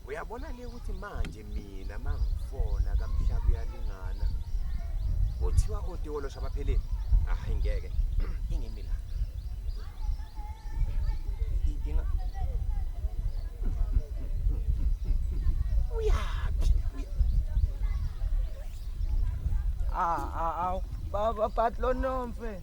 Uyabona ke ukuthi manje mina mangifona kamhlaba uyalingana. Kuthiwa otiwolo shabapheleni. Hayi ngeke. Ingimi la. Inkinga. Uyaphi? Ah ah ah. Baba patlonomfe.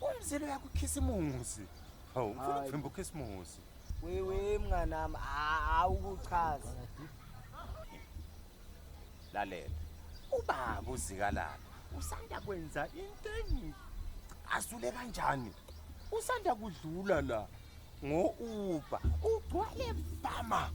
Umzilo yakukhisa imuzi. Hawu, ufuna ukuvimba ukhisa imuzi. Wewe mnganami, awukuchazi. Lalela. Ubaba uzikalala. Usanda kwenza into engi asule kanjani? Usanda kudlula la ngo-Uber. Ugcwale fama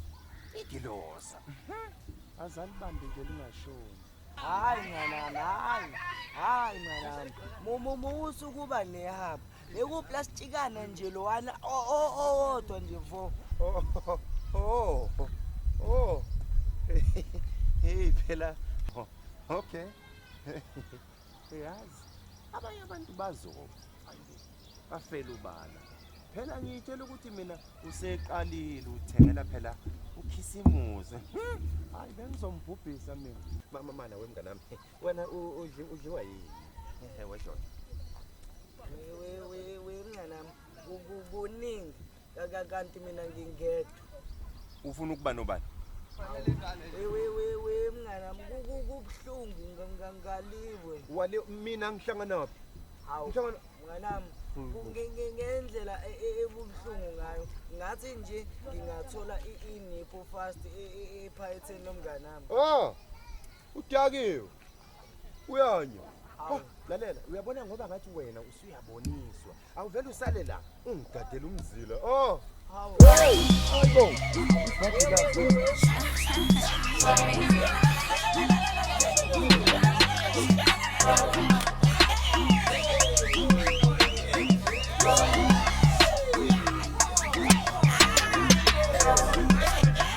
igilosa. Mhm. Azalibambe nje lingashoni. Hayi mnganami, hayi. Hayi mnganami. Mumu musa ukuba nehaba. Bekuplastikana nje lowana owodwa nje vo. Oh. Oh. Oh. Hey phela. Oh, okay. Uyazi abanye abantu bazoba. bafela ubala phela ngiyitshela ukuthi mina useqalile uthengela phela ukhisimuze hmm, hayi bengizombhubhisa mina mama mana wemngane wami wena udliwa yini ehe weshona wemngane wami kuningi kanti mina ngingedwa ufuna ukuba nobani wewewewe mnganam kubuhlungu ngaliwe wale mina ngihlanganaphi ngihlangana mnganam hmm. ngendlela e, e, ebubuhlungu ngayo ngathi nje ngingathola i-inipo fast e, ephayetheni lomnganami o oh, udakiwe uyanya oh, lalela uyabona ngoba ngathi wena usuyaboniswa awuvele usale la ungigadele umzila oh Thank you.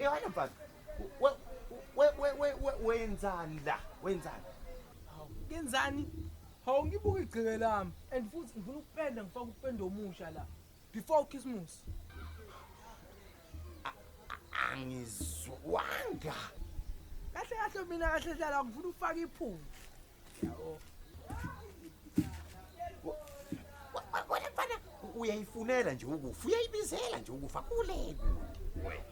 Yona mfana. We we we wenzani la? Wenzani? Hawu, ngenzani? Hawu ngibuka igceke lami and futhi ngifuna ukupenda ngifaka upendo omusha la before Christmas. Angizwanga. Kahle kahle mina kahle hlala ngifuna ufaka iphunga. wena mfana uyayifunela nje ukufa uyayibizela nje ukufa kule kude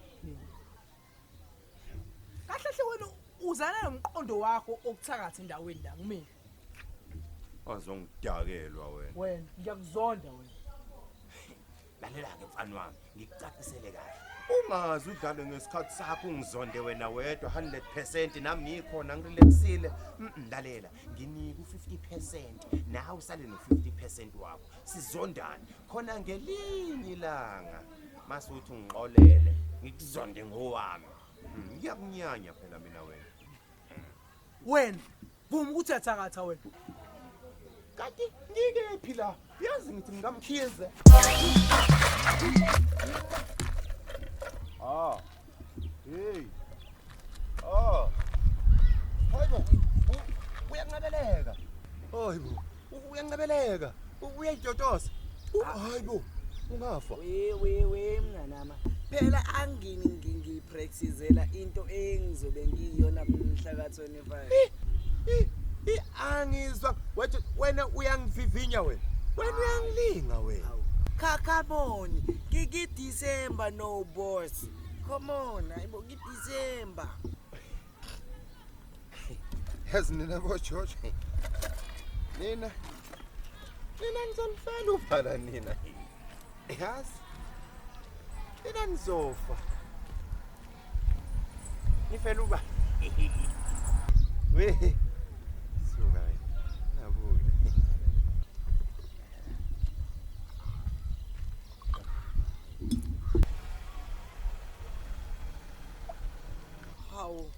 kahle hle wena uzana nomqondo wakho okuthakatha endaweni la kumina azongidakelwa wena wena ngiyakuzonda wena lalela-ke mfana wami ngikucacisele kahle ungazi udlale ngesikhathi sakho ungizonde wena wedwa 100 percent nami ngikhona ngirelaxile lalela nginika u-50 percent nawe usale no-50 percent wakho sizondane khona ngelinye ilanga masuthi ungixolele ngikuzonde ngowami hmm, ngiyakunyanya phela mina wena wena Vuma ukuthi uyathakatha wena. Kanti ngikephi la? Yazi ngithi ngikamkhize. Ah. Hey. Ah. Hayibo. Uyanqabeleka. Hayibo. uyancebeleka uyayitotosa hayi bo ungafa we we we mnganama phela angini ngipracticela into engizobe ngiyiyona mhla ka 25 i angizwa wathi wena uyangivivinya wena wena uyangilinga wena kakaboni ngiki December no boss come on ayibo ki December yazi nina bojojo nina nina nizolifela ubhala nina yazi nina nizofa nifela uba we suka nabuya Hawu.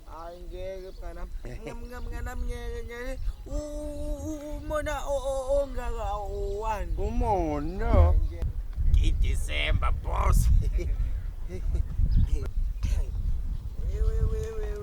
Hayi ngeke mngana. Mngana mngana ngeke ngeke. Umona ongaka owani. Umona. December boss.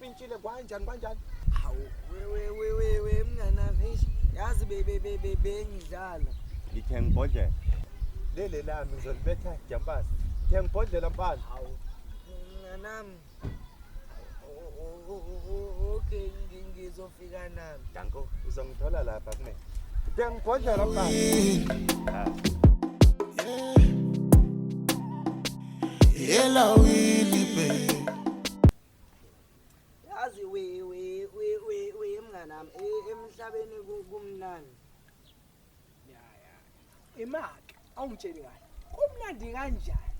Pintshile kwanjani kwanjani? Hawu wewe wewe we, mnganami eish yazi bebe bebe bengidlala. Ngithe ngibhodlela. Lele lami ngizolibetha jampasi. Ngithe ngibhodlela mfana. Hawu mnganami. Okay ngizofika nami. Danko uzongithola lapha kumina. Ngithe ngibhodlela mfana. Yeah. Yellow Willie baby. yazi we we we we we mnganami e- emhlabeni ku- kumnandi imake awungitsheli kahle kumnandi kanjani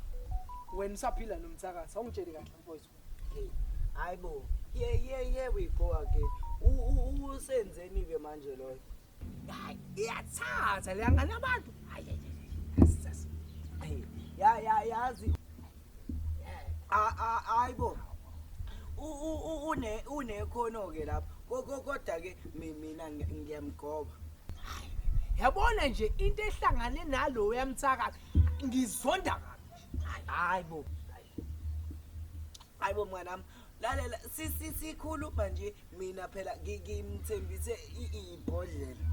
wena usaphila nomthakathi awungitsheli kahle mfowethu Hey, hayi bo ye ye ye we go again U- u- usenzeni ke manje loyo hayi iyathatha leyangane abantu hayi Hey, ya ya yazi hayibo unekhono ke lapha kodwa ke mina ngiyamgoba yabona nje into ehlangane nalo yamthakathi ngizonda kabi hayibo hayibo mnganami lalela sikhuluma nje mina phela ngimthembise ibhodlela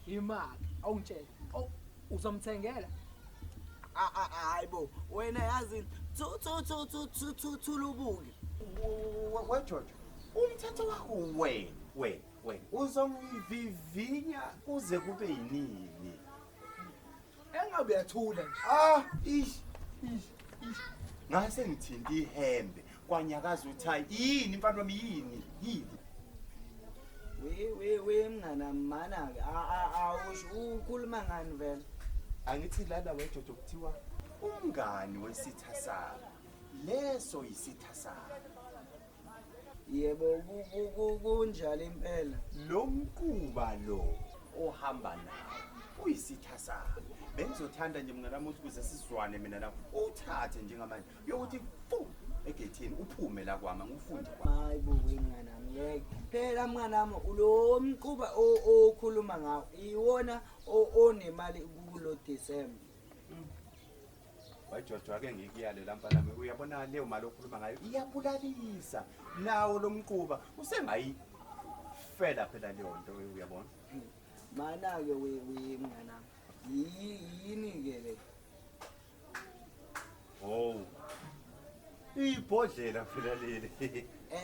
imali awungitshela uzomthengela hayi bo wena yazi thulubuke wejojo umthetho wakho wena wena wena uzongivivinya kuze kube yinini engabe yathula ah ish ish ish ngase ngithinta ihembe kwanyakaza uthayi yini mfana wami yini yini we we we mngana mana-ke awusho ukhuluma ngani vele angithi lala wejojo kuthiwa umngani wesitha sami leso yisitha sami yebo ku- ku- ku- kunjalo impela lo mquba lo ohamba nawo uyisitha sami bengizothanda nje mnganami ukuthi kuze sizwane mina nawe uthathe njengamanje yokuthi fu egethini uphume la kwama ngufunde kwa hayi bo wengana ngeke phela mwana wami lo mquba o- okhuluma ngawo iwona o- onemali kulo December wajojo ake ngikuyale la mfana wami uyabona leyo mali okhuluma ngayo iyabulalisa nawo lo mquba usengayifela phela leyo nto uyabona mana ke we we mwana wami Yi- yini ke le Wow. Ibhodlela phela leli.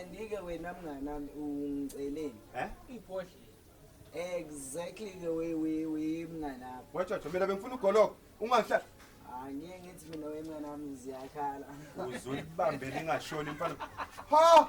Andike wena mnganami ungiceleni. Eh? Ibhodlela. Exactly the way we we mnganami. Wacha thobela bengifuna ugoloko. Ungahlala. Angeke ngithi mina wemnganami ziyakhala. Uzulibambele ingashoni mfana. Ha!